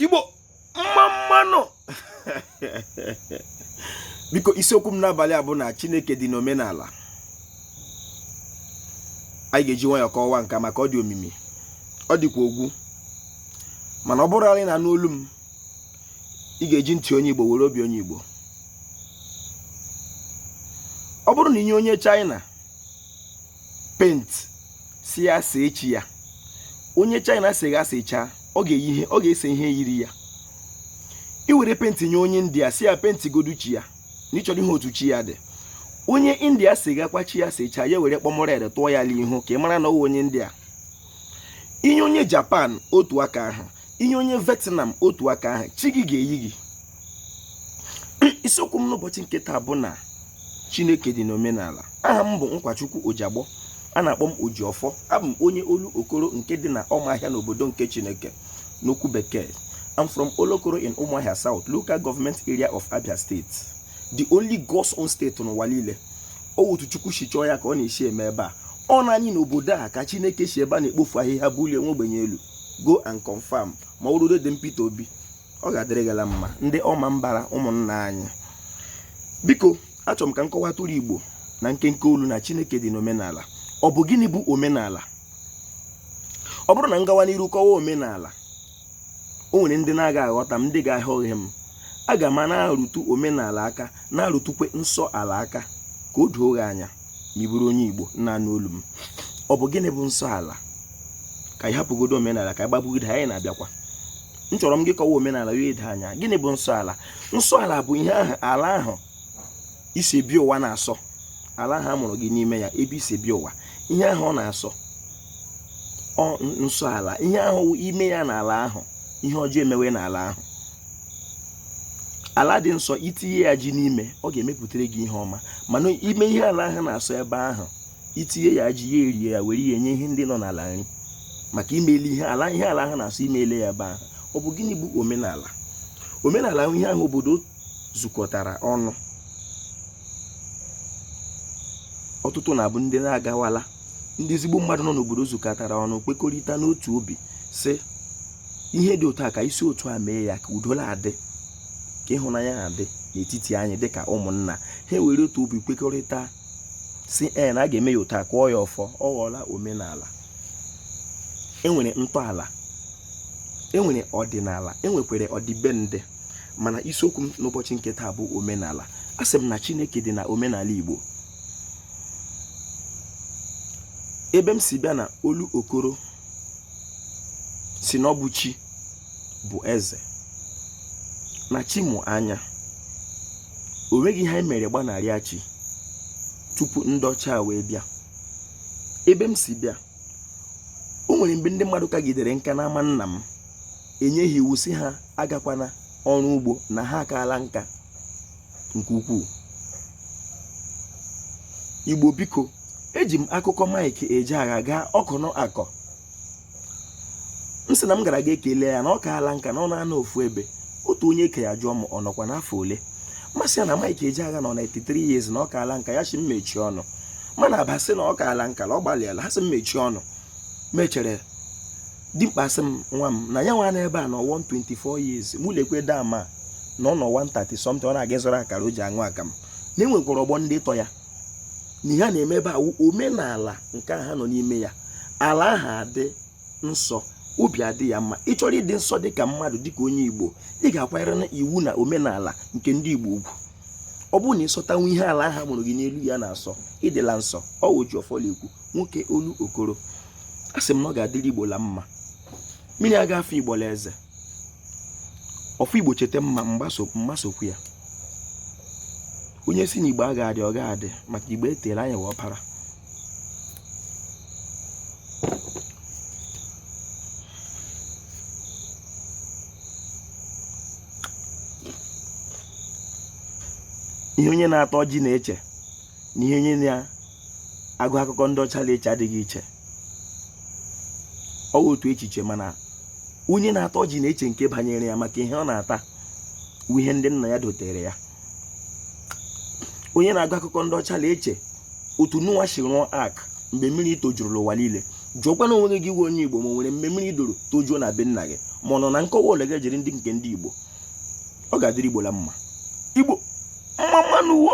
igbo mma mma nụ biko isiokwu m n'abalị a bụ na chineke dị n'omenala anyị ga-eji nwayọọ kọwaa nka maka ọ dị omimi ọ dịkwa ogwu mana ọ bụrụ na ị na-anụ olu m ị ga-eji ntị onye igbo were obi onye igbo ọ bụrụ na i nye onye china paint sị ya see chi ya onye china sega sechaa ọ ga-eyi ihe ọ ga-ese ihe yiri ya i were paint nye onye india sị ya paintigodu chi ya na ị chọrọ ịhụ otu chi ya dị onye india segakwa chi ya sechaa ya were kpọm red tụọ ya n'ihu ka ị mara na ọ wụ onye india i nye onye japan otu aka ahụ i nye onye vietnam otu aka ahụ chi gị ga-eyi gị isiokwu m n'ụbọchị nke taa bụ na chineke dị n'omenala aha m bụ nkwachukwu ojiagbọ a na-akpọ m ojiọfọ abụ m onye olokoro nke dị na ọmaahịa n'obodo nke chineke n'okwu bekee I'm from Olokoro in Umuahia South, local government area of Abia State. The only God's own state n'ụwa niile. Ọ wụ otu Chukwu si chọọ ya ka ọ na-esi eme ebe a. Ọ naanị n'obodo a ka Chineke si ebe a na-ekpofu ahịhịa bulie nwa ogbenye elu. Go and confirm ma ọ ruo dee Peter Obi. ọ ga-adịrị gị la mma ndị ọmambara ụmụnna anyị biko achọrọ m ka m kọwatụrụ igbo na nkenke olu na chineke dị n'omenala ọ bụ gịnị bụ omenala ọ bụrụ na m gawa n'iru kọwa omenala o nwere ndị na-aga aghọta m ndị ga-aghọhie m aga m na-arụtụ omenala aka na-arụtụkwe nsọ ala aka ka o doo gị anya ma ị bụrụ onye igbo na-anụ olu m ọ bụ gịnị bụ nsọ ala ka anyị hapụgodu omenala ka anyị gbabugide anyị na-abịakwa m chọrọ m gị kọwa omenala ya edo anya gịnị bụ nsọ ala nsọ ala bụ ihe ahụ ala ahụ i si bịa ụwa na-asọ ala ahụ a mụrụ gị n'ime ya ebe i si bịa ụwa ihe ahụ ọ na-asọ ọ nsọ ala ihe ahụ i mee ya n'ala ahụ ihe ọjọọ emewe n'ala ahụ ala dị nsọ i tinye ya ji n'ime ọ ga-emepụtara gị ihe ọma mana i mee ihe ala ahụ na-asọ ebe ahụ i tinye ya ji ya erie ya were ya enye ihe ndị nọ n'ala nri maka i mele ihe ala ihe ala ahụ na-asọ i mele ya ebe ahụ ọ bụ gịnị bụ omenala omenala ihe ahụ obodo zukọtara ọnụ ọtụtụ na-abụ ndị na-agawala ndị ezigbo mmadụ nọ n'obodo zukọtara ọnụ kwekọrịta n'otu obi sị ihe dị otu a ka e si otu a mee ya ka udo na-adị ka ịhụnanya na-adị n'etiti anyị dịka ụmụnna ha were otu obi kwekọrịta sị ee na a ga-eme ya otu a kụọ ya ọfọ ọ ghọọla omenala e nwere ntọala e nwere ọdịnala e nwekwere ọdịbendị mana isiokwu m n'ụbọchị nke taa bụ omenala asị m na chineke dị na omenala igbo ebe m si bịa na olokoro sị na ọ bụ chi bụ eze na chi mụ anya o nweghị ihe anyị mere gbanarịa chi tupu ndị ọcha wee bịa ebe m si bịa o nwere mgbe ndị mmadụ kagidere nka n'ama nna m enyeghị iwu sị ha agakwana ọrụ ugbo na ha akaala nka nke ukwuu igbo biko eji m akụkọ mike ejeagha gaa ọkọn akụ m sị na m gara ga ekele ya na ọ kaala nka na ọ na-anọ ofu ebe otu onye ke ya jụọ m ọ nọkwa n'afọ ole m asị ya na Mike Ejeagha nọ na 83 years na ọ kaala nka ya sị m mechie ọnụ m ana-aba sị na ọ kaala nka na ọ gbalịala ha sị m mechie ọnụ mechere dimkpa sị m nwa m na ya nwa na ebe a nọ 124 years mụ lekwe dama na ọ nọ 130 something ọ na-aga ịzụrụ akara o ji aṅụ akamụ na e nwekwara ọgbọ ndị tọ ya na ihe a na-eme ebe a wụ omenala nke a ha nọ n'ime ya ala ahụ adị nsọ obi adị ya mma ị chọrọ ịdị nsọ dịka mmadụ dịka onye igbo ị ga-akwanyere na iwu na omenala nke ndị igbo ugwu ọ bụrụ na ị sọtanwu ihe ala ahụ mụrụ gị n'elu ya na-asọ ị dịla nsọ ọ wụ ojiọfọ la-ekwu nwoke olokoro asị m na ọ ga-adịrị igbo la mma mmiri aga afa igbo la eze ọfụ igbo cheta mma mma sokwu ya onye sị na igbo a ga-adị ọ ga-adị maka igbo etere anya wụ ọpara ihe onye na-ata ọjị na-eche na ihe onye na agụ akụkọ ndị ọcha na-eche adịghị iche ọ wụ otu echiche mana onye na-ata ọjị na-eche nke banyere ya maka ihe ọ na-ata wụ ihe ndị nna ya dotere ya onye na-agụ akụkọ ndị ọcha na-eche otu noah si rụọ ark mgbe mmiri tojuru la ụwa niile jụọkwana onwe gị wụ onye igbo ma o nwere mgbe mmiri doro tojuo na be nna gị ma ọ nọ na nkọwa ole ga-ejiri ndị nke ndị igbo ọ ga-adịrị igbo la mma igbo mma mma nụ wo